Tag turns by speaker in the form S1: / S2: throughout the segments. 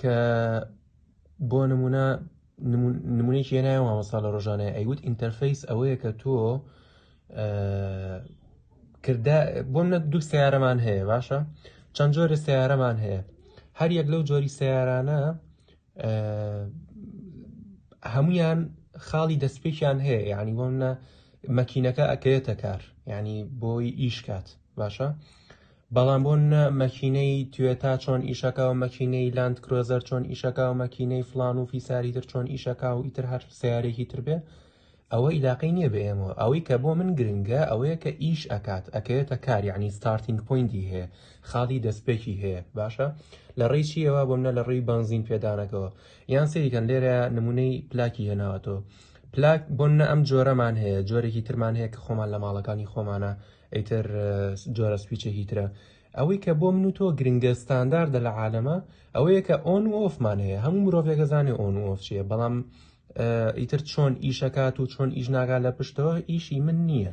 S1: کە بۆ نمونە نمونێکی هێنایە مامۆستا لە ڕۆژانە ئەیوت ئینتەرفیس ئەوەیە کە تۆ کردە بۆ منە دوو سیارەمان هەیە باشە چەند جۆرە سیارەمان هەیە هەر یەک لەو جۆری سیارانە هەمویان خاڵی دەستپێکیان هەیە یعنی بۆ منە مەکینەکە ئەکەوێتە کار ینی بۆی ئیشکات باشە بەڵام بۆ نە مەکینەی توێتا چۆن ئیشەکاو مەکینەی لاند کرۆزەر چۆن ئیشەکاو مەکینەی فلان و فیساری تر چۆن ئیشەکاو ئیتر هەر سیارێکی تر بێ ئەوە ئیلاقەی نییە بە ئێمەوە ئەوەی کە بۆ من گرنگە ئەوەیە کە ئیش ئەکات ئەکەوێتە کار یعنی ستارتینگ پوینتی هەیە خاڵی دەستپێکی هەیە باشە لە ڕێی چیەوە بۆ منە لە ڕێی بنزین پێدانەکەەوە یان سریکەن لێرە نمونەی پلاکی هێناوەتەوە پلاک بۆنە ئەم جۆرەمان هەیە جۆرێکی ترمان هەیە کە خۆمان لە ماڵەکانی خۆمانە ئیتر جۆرە سویچێکی ترە. ئەوەی کە بۆ من و تۆ گرنگە ستانداردە لە عالەمە ئەوەیە کە ئۆن و ئۆفمان هەیە هەموو مرۆڤێکە زانێ ئۆن و ئۆف چیە بەڵام ئیتر چۆن ئیشەکات و چۆن ئیش ناگا لە پشتەوە ئیشی من نییە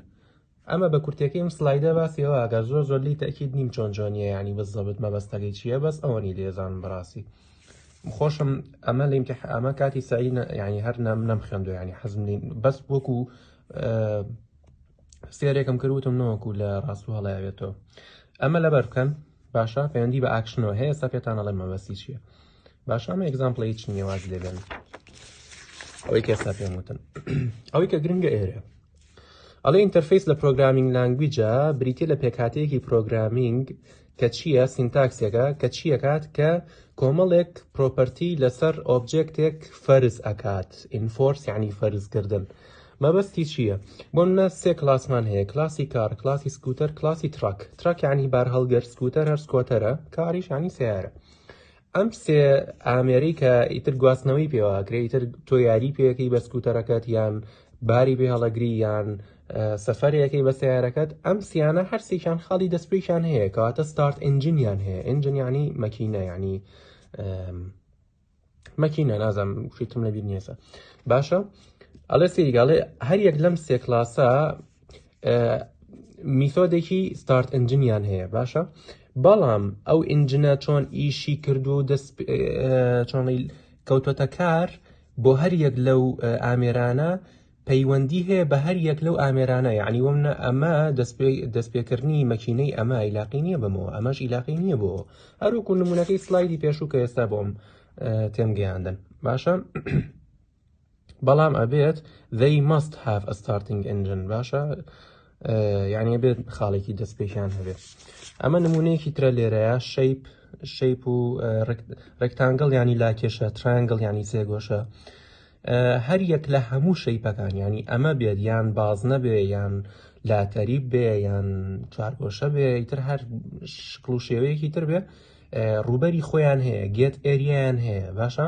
S1: ئەمە بە کورتەکەی ئەم سلایدە باسیەوە ئەگەر زۆر زۆر لی تاکیید نیم چۆن جۆنیە ینی بە زەبت مەبەستەکەی چییە بەس ئەوەنی لێزان بڕاستی خۆشم ئەمە لە امتح ئەمە کاتی سعی ینی هەر نام نەم خوێندو ینی حەزم بەس وەکو سێرێکم کرد وتم نەوەکو لە ڕاست و هەڵیاوێتەوە ئەمە لەبەر بکەن باشە پەیوەندی بە ئاکشنەوە هەیە سا پێتان ئەڵێ مەبەسی چییە باش ئەمە ئەگزامپڵی هیچ نییە واز لێبێن ئەوەی کەسا پێم وتن ئەوەی کە گرنگە ئێرە ئەڵێ ئینتەرفیس لە پرۆگرامینگ لانگویجە بریتە لە پێکاتەیەکی پرۆگرامینگ کە چییە، سینتاکسێکە کە چییەکات، کە کۆمەڵێک پرۆپەرتی لەسەر ئۆبجێکتێک فەرز ئەکات، ئینفۆرس یعنی فەرزکردن. مەبەستی چییە؟ بۆ منە سێ کلاسمان هەیە، کلاسی کار، کلاسی سکوتەر، کلاسی تراک. تراک یعنی بارهەڵگر، سکوتەر هەر سکۆتەرە، کاریش یعنی سەیارە. ئەم سێ ئامێرەی کە ئیتر گواستنەوەی پێواکرێ ئیتر تۆ یاری پێەکەی بە سکوتەرەکەت یان باری بێ هەڵەگری یان سەفەرەکەی بە سیارەکەت ئەم سیانە هەرسێکیان خاڵی دەستپێکیان هەیە کەواتە ستارت ئنجنیان هەیە ئنجنیانی مەکینە ینی مەکینە نازم فیتم لەبییر نیێسە باشە ئەڵێ سریگەڵێ هەر یەک لەم سێ کلاسە میثۆدێکی ستارت ئنجنیان هەیە باشە بەڵام ئەو ئینجنە چۆن ئیشی کردو و دەست چۆنی کەوتۆتە کار بۆ هەر یەک لەو ئامێرانە پەیوەندی هەیە بە هەر یەک لەو ئامێرانە یعنی ومنە ئەمە دەستپێکردنی مەکینەی ئەمە ئیلاقی نییە بەمەوە ئەمەش ئیلاقی نییە بۆ هەروکو نمونونەکەی سلایدی پێشوو کە ئێستا بۆم تێمگەیاندن باشە بەڵام ئەبێت they must have a starting engine باشە یعنی بێت خاڵێکی دەست پێکیان هەبێت ئەمە نمونەیەکی ترە لێرەیە شەیپ شەیپ و ڕێکتانگەڵ ینی لاکێشە ترانگل ینی سێگۆشە هەر یەک لە هەموو شەیپەکان ینی ئەمە بێت یان باز نەبێ یان لاتەریب بێ یان چارگۆشە بێ ئیتر هەر شکڵ و شێوەیەکی تر بێ ڕوبەری خۆیان هەیە گێت ئێریان هەیە باشە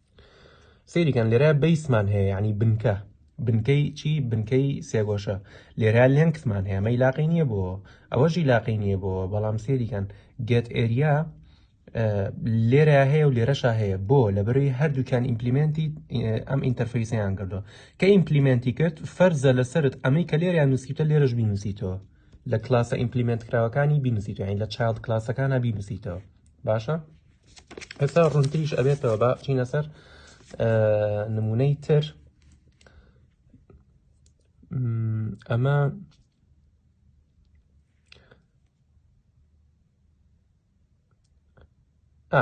S1: سری کن لرا بیس من هی یعنی بنکه بنکەی چی بنکەی سێگۆشە لێرا لێنکسمان هەیە مەی لاقی نییە بۆ ئەوەژی لاقی نییە بۆ بەڵام سێریکەن گێت ئێریا لێرە هەیە و لێرەشا هەیە بۆ لە بەروی هەردووکیان ئیمپلیمنتی ئەم ئینتەرفیسیان کردووە کە ئیمپلیمنتی کرد فەرزە لەسرت ئەمەی کە لێریان نووسیتە لێرەش بینوسیتەوە لە کلاسە ئیمپلیمنت کراوەکانی بینوسیتەوە لە چاڵ کلاسەکانە بینوسیتەوە باشە؟ ئێستا ڕونتریش ئەبێتەوە با بچینە سەر نمونەی تر ئەمە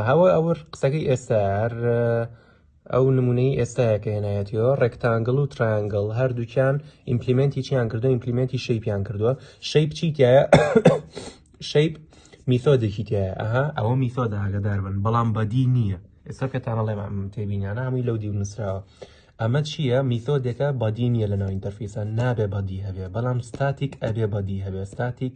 S1: هەوە ئەوە قسەکەی ئێستا ئەو نمونەی ئێستایە کە هێنایەتیەوە ڕێکتانگڵ و ترایانگڵ هەردووکیان ئیمپلیمنتی چیان کردو ئیمپلیمنتی شەیپیان کردووە شەیپ چی تایە شەیپ میثۆدێکی تایە ئەها ئەوە میثۆد ئاگدار بن بەڵام بەدی نییە ئێستا پێتانە ڵێ تێبینیانە هەمووی لەو دیو نووسراوە ئەمە چییە میثۆدێکە بەدی نییە لە ناو ئینتەرفیسە نابێ بەدی هەبێ بەڵام ستاتیک ئەبێ بەدی هەبێ ستاتیک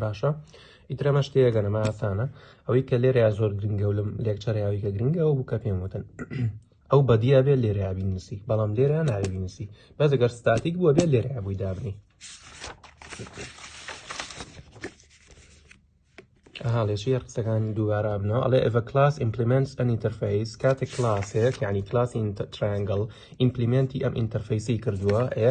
S1: باشە ئیتر ئەمە شتەیەگە نەما ئاسانە ئەوەی کە لێرەیا زۆر گرنگە و لەم لێکچەریاوی کە گرنگە ئەو بوو کە پێم وتن ئەو بەدیە بێت لێرە بینسی بەڵام لێرە ناوی بینسی بەس ئەگەر ستاتیک بووە بێت لێرە بووی دابنی هاڵێشیە قسەکان دووارە بنەوە ئەڵێ ئەڤ کلاس ئیمپلیمنت ئەن ئینتەرفیس کاتێک کلاسێک یعنی کلاسی ترانگەڵ ئیمپلیمنتی ئەم ئینتەرفیسی کردووە ئێ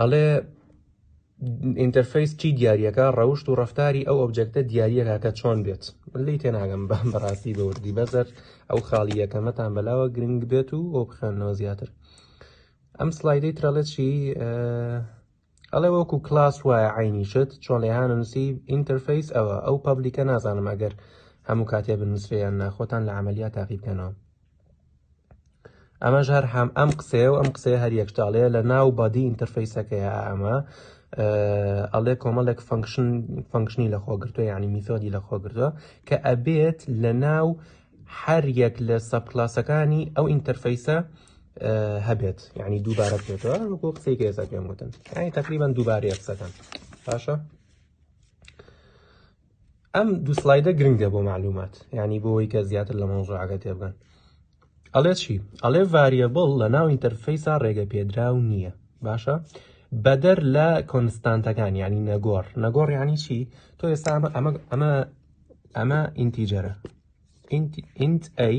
S1: ئەڵێ ئینتەرفەیس چی دیارەکە ڕەوشت و ڕفتاری ئەو ئۆبجێکتە دیارەکە کە چۆن بێت لی تێناگەم بە بەڕاستی بە وردی بەزەر ئەو خاڵی یەکەمەتان بەلاوە گرنگ بێت و ئەو بخێنەوە زیاتر ئەم سلایدەی ترەڵێکی ئەڵێ وەکو کلاس وایە عینی شت چۆن لێهانە نووسی ئینتەرفەیس ئەوە ئەو پبلیکە نازانم ئەگەر هەموو کاتێ بنووسێیان ناخۆتان لە عملیات تاقیبکەنەوە ئەمەش هەر هەم ئەم قسەیە و ئەم قسەیە هەر یەکتاڵەیە لە ناو بادی ئینتەرفیسەکەیە ئەمە ئەڵێ کۆمەڵێک فنکشن فنکشنی لە خۆگرتووە ینی میثۆدی لە خۆگرتووە کە ئەبێت لە ناو هەر یەک لە سەبکلاسەکانی ئەو ئینتەرفیسە هەبێت ینی دووبارە بێتەوە وەکو قسەی گێزە پێم وتن ینی تقریبان دووبارەیە قسەکان باشە ئەم دوو سلایدە گرنگە بۆ معلومات یعنی بۆەوەی کە زیاتر لە مەوزوعەکە تێبگەن ئەڵێ چی ئەڵێ ڤریبڵ لە ناو ئینتەرفیسا ڕێگە پێدراو نییە باشە بەدەر لە کۆنستانتەکان ینی نەگۆڕ نەگۆڕ ینی چی تۆ ئێستا ئەمە ئەمە ئەمە ئینتیجەرە ئینت ئەی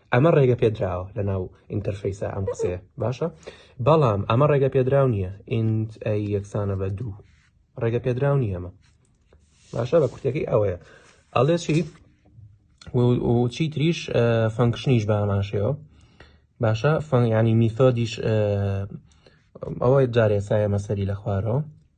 S1: ئەمە ڕێگە پێدراوە لە ناو ئینتەرفیسە ئەم قسەیە باشە بەڵام ئەمە ڕێگە پێدراو نییە ئینت ئەی یەکسانە بە دوو ڕێگە پێدراو نیە ئەمە باشە بە کورتەکەی ئەوەیە ئەڵێ چی چی تریش فەنکشنیش باماشەوە باشە فەنگانی میثۆدیش ئەوەی جارێ سایە مەسەری لە خوارەوە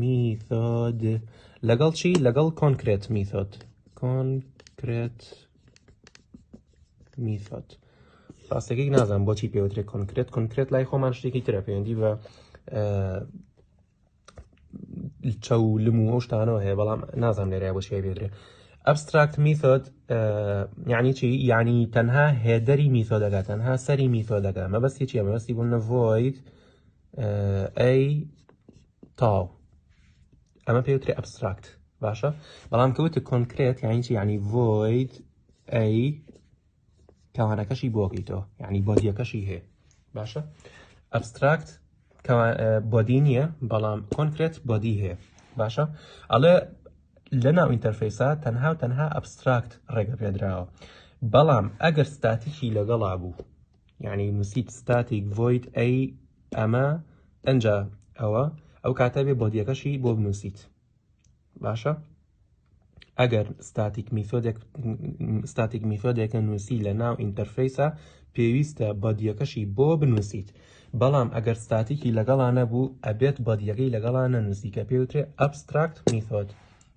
S1: میثۆد لەگەڵ چی لەگەڵ کۆنکرێت میثۆد کۆنکرێت میثۆد ڕاستەکەی نازان بۆچی پێوترێت کۆنکرێت کۆنکرێت لای خۆمان شتێکی ترە پەیوەندی بە چەو لم و ئەو شتانەوە هەیە بەڵام نازان لێرای بۆ شێ بێدرێ ئەبستراکت میثۆد یعنی چی یعنی تەنها هێدەری میثۆدەکە تەنها سەری میثۆدەکە مەبەستی چیە مەبەستی بوون نەڤۆیت ئەی تاو ئەمە پێوتری ئەبستراکت باشە بەڵام کەوتە کۆنکرێت یعنی چی ینی ڤۆید ئەی کەوانەکەشی بۆگەیتەوە یعنی بۆدیەکەشی هەیە باشە ئەبستراکت بۆدی نییە بەڵام کۆنکرێت بۆدی هەیە باشە ئەڵێ لە ناو ئینتەرفیسا تەنها و تەنها ئەبستراکت ڕێگە پێدراوە بەڵام ئەگەر ستاتیکی لەگەڵا بوو یعنی نووسیت ستاتیک ڤۆید ئەی ئەمە ئەجا ئەوە ئەو کاتە بێ بۆدیەکەشی بۆ بنووسیت باشە ئەگەر ستاتیک میثۆدێک ستاتیک میثۆدێکە نووسی لە ناو ئینتەرفیسە پێویستە بەدیەکەشی بۆ بنووسیت بەڵام ئەگەر ستاتیکی لەگەڵا نەبوو ئەبێت بەدیەکەی لەگەڵا نەنووسی کە پێوترێ ئەبستراکت میثۆد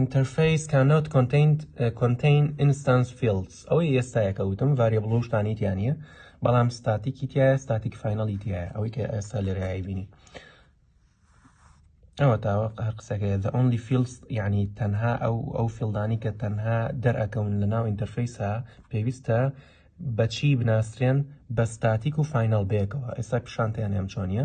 S1: Interface cannot contain instance fields ئەوەی ئێستایە کە وتم ڤاریبڵ و شتانی تیا نییە بەڵام ستاتیکی تایە ستاتیک فینەڵی تایە ئەوەی کە ئێستا لێرەایی بینی ئەوە تاوە هەر قسەکە the only fields یعنی تەنها ئەو ئەو فیلدانی کە تەنها دەرەکەون لە ناو ئینتەرفیسا پێویستە بەچی بناسرێن بە ستاتیک و فینەڵ بەیەکەوە ئێستا پیشانتیان ئەم چۆنیە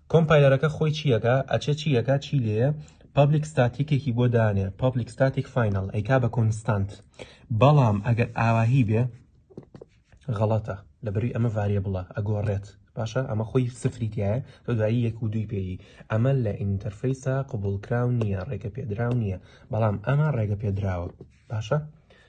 S1: کۆمپایلەرەکە خۆی چی ئەکا ئەچێ چی ئەکا چی لێیە پابلیک ستاتیکێکی بۆ دانێ پابلیک ستاتیک فاینەڵ ئەیکا بە کۆنستانت بەڵام ئەگەر ئاواهی بێ غەڵەتە لە بەروی ئەمە ڤاریە بڵە ئەگۆڕێت باشە ئەمە خۆی سفریتایە تۆ دوایی یەک و دووی پێی ئەمە لە ئینتەرفیسا قوبولکرااو نییە ڕێگە پێدراو نییە بەڵام ئەمە ڕێگە پێدراوە باشە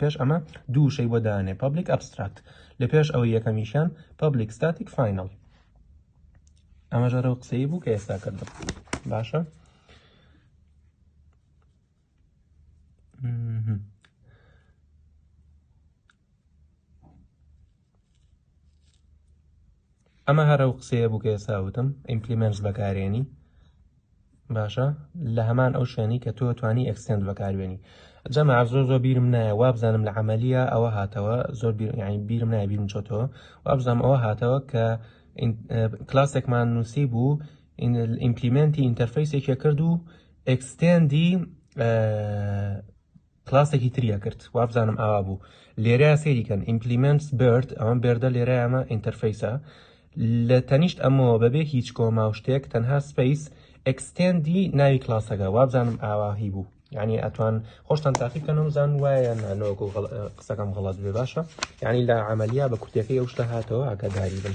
S1: پێش ئەمە دوو وشەی بۆ دانێ پابلیک ئەبستراکت لە پێش ئەوەی یەکەمیشیان پابلیک ستاتیک فینەڵ ئەمە ژەرە و قسەی بوو کە ئێستا کردم باشە ئەمە هەر ئەو قسەیە بوو کە ئێستا وتم ئیمپلیمنتس بەکارێنی باشە لە هەمان ئەو شوێنی کە تۆ توانی ئەکسنت بەکارێنی جەمە زۆر زۆر بیرم نایە وابزانم لە عملیە ئەوە هاتەوە زۆر بیرنی بیرم نایە بیرم چۆتەوە وابزانام ئەوە هاتەوە کە کلاسێکمان نووسی بوو ئیمپلیمنتی ئینتەرفیسێکی کرد و ئەکسستێندی کلاسێکی تری ئەکرد وابزانم ئاوا بوو لێرە سەیری کەن ئیمپلیمنتس برد ئەوەم بێردە لێرە ئەمە ئینتەرفیسە لە تەنیشت ئەمەوە بەبێ هیچ کۆما و شتێک تەنها سپیس ئەکسستێندی ناوی کلاسەکە وابزانم ئاواهی بوو یعنی ئەتوان خۆشتان تاقی بکەن و زان وایە نانۆکو قسەکەم غڵات بێ باشە یعنی لە عملیا بە کورتەکەی ئەو شتە هاتەوە ئاگاداری بن.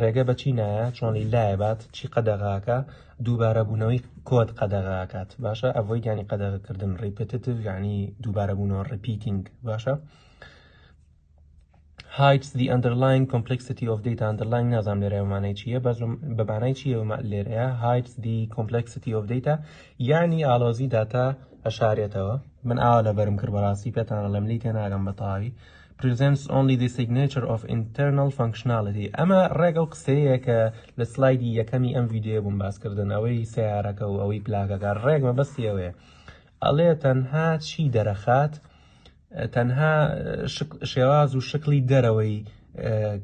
S1: ڕێگە بە چی نایە چۆن لایە بات چی قەدەغاکە دووبارەبوونەوەی کۆد قەدەغاکات باشە ئەڤۆی گیانی قەدەغکردن ڕیپتتیڤ یعنی دووبارەبوونەوە ڕپیتینگ باشە hides the underlying complexity of data underlying نازام لێرە مانای چییە بەس بەمانای چیە لێرەیە hides the complexity of data یعنی ئالۆزی داتا ئەشارێتەوە من ئاوا لەبەرم کرد بەڕاستی پێتانە لەم لی تێناگەم بەتەواوی presents only the signature of internal functionality ئەمە ڕێک ئەو قسەیە کە لە سلایدی یەکەمی ئەم ڤیددیوە بووم باسکردن ئەوەی سیارەکە و ئەوەی پلاکەکە ڕێک مەبەستی ئەوەیە ئەڵێ تەنها چی دەرەخات تەنها شێواز و شکلی دەرەوەی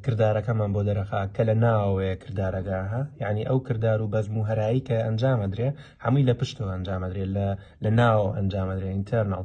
S1: کردارەکەمان بۆ دەرەخا کە لە ناوەیە کردارەکە ها یعنی ئەو کردار و بەزم و هەرایی کە ئەنجامەدرێ هەمووی لە پشتەوە ئەنجامەدرێ لە لە ناوە ئەنجامەدرێ ئینتەرناڵ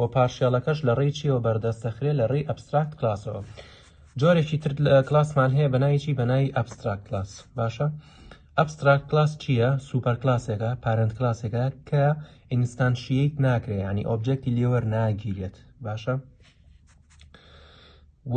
S1: و پارشێڵەکەش لە ڕێی چیەوە بەردەست دەخرێت لە ڕێی ئەبستراکت کلاسەوە جۆرێکی تر کلاسمان هەیە بەناوی چی بەناوی ئەبستراکت کلاس باشە ئەبستراکت کلاس چییە سوپەر کلاسێکە پارنت کلاسێکە کە ئینستانشیت ناکرێت ینی ئۆبجێکتی لێوەر ناگیرێت باشە و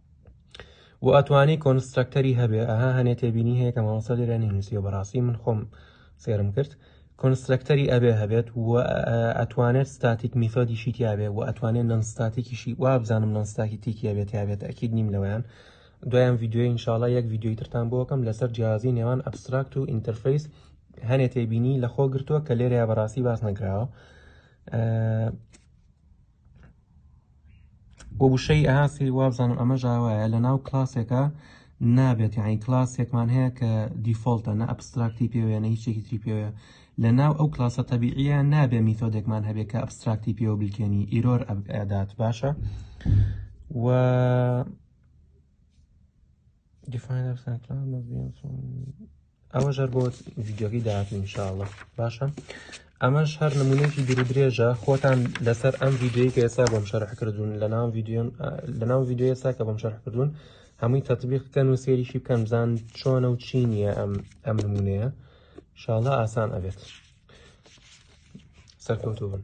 S1: و ئەتوانی کۆنسترەکتەری هەبێ ئەها هەنێ تێبینی هەیە کە مامۆستا لێرە نینوسیە بەڕاستی من خۆم سێرم کرد کۆنسترەکتەری ئەبێ هەبێت و ئەتوانێت ستاتیک میثۆدیشی تیاابێ و ئەتوانێت نەنستاتیکیشی وابزانم نەنستاکی تیکیابێت یاابێت ئەکیید نیم لەوەیان دوایان یددیوی انشاءڵە یەک یددیوی ترتان بۆکەم لەسەر جیازی نێوان ئەبستراکت و ئینتەرفیس هەنێ تێبینی لەخۆ گرتووە کە لێرەیە بەڕاستی باس نەکراوە بۆ وشەی ئاسی وابزانم ئەمە ژاوایە لە ناو کلاسێکە نابێت یعنی کلاسێکمان هەیە کە دیفۆلتە نە ئەبستراکتی پێوەیە نە هیچێکی تری پێوەیە لە ناو ئەو کلاسە تەبیعە نابێ میتۆدێکمان هەبێ کە ئەبستراکتی پێوە بلکێنی ئیرۆر ئەدات باشە و دیفاینەر سانکلاود مەزیەنسۆن ئەوەش هەر بۆ ڤیدیۆگەی داهاتوو انشاءاللە باشە ئەمەش هەر نمونەیەکی دوور درێژە خۆتان لەسەر ئەم ڤیدیۆی کە ئێستا بۆم شەرح کردوون لە ناو ڤیدیۆن لە ناو ڤیدیۆ ئێستا کە بۆم شەرح کردوون هەمووی تەطبیق بکەن و سێریشی بکەن بزان چۆنە و چی نییە ئەم ئەم نمونەیە شاڵە ئاسان ئەبێت سەرکەوتوو بن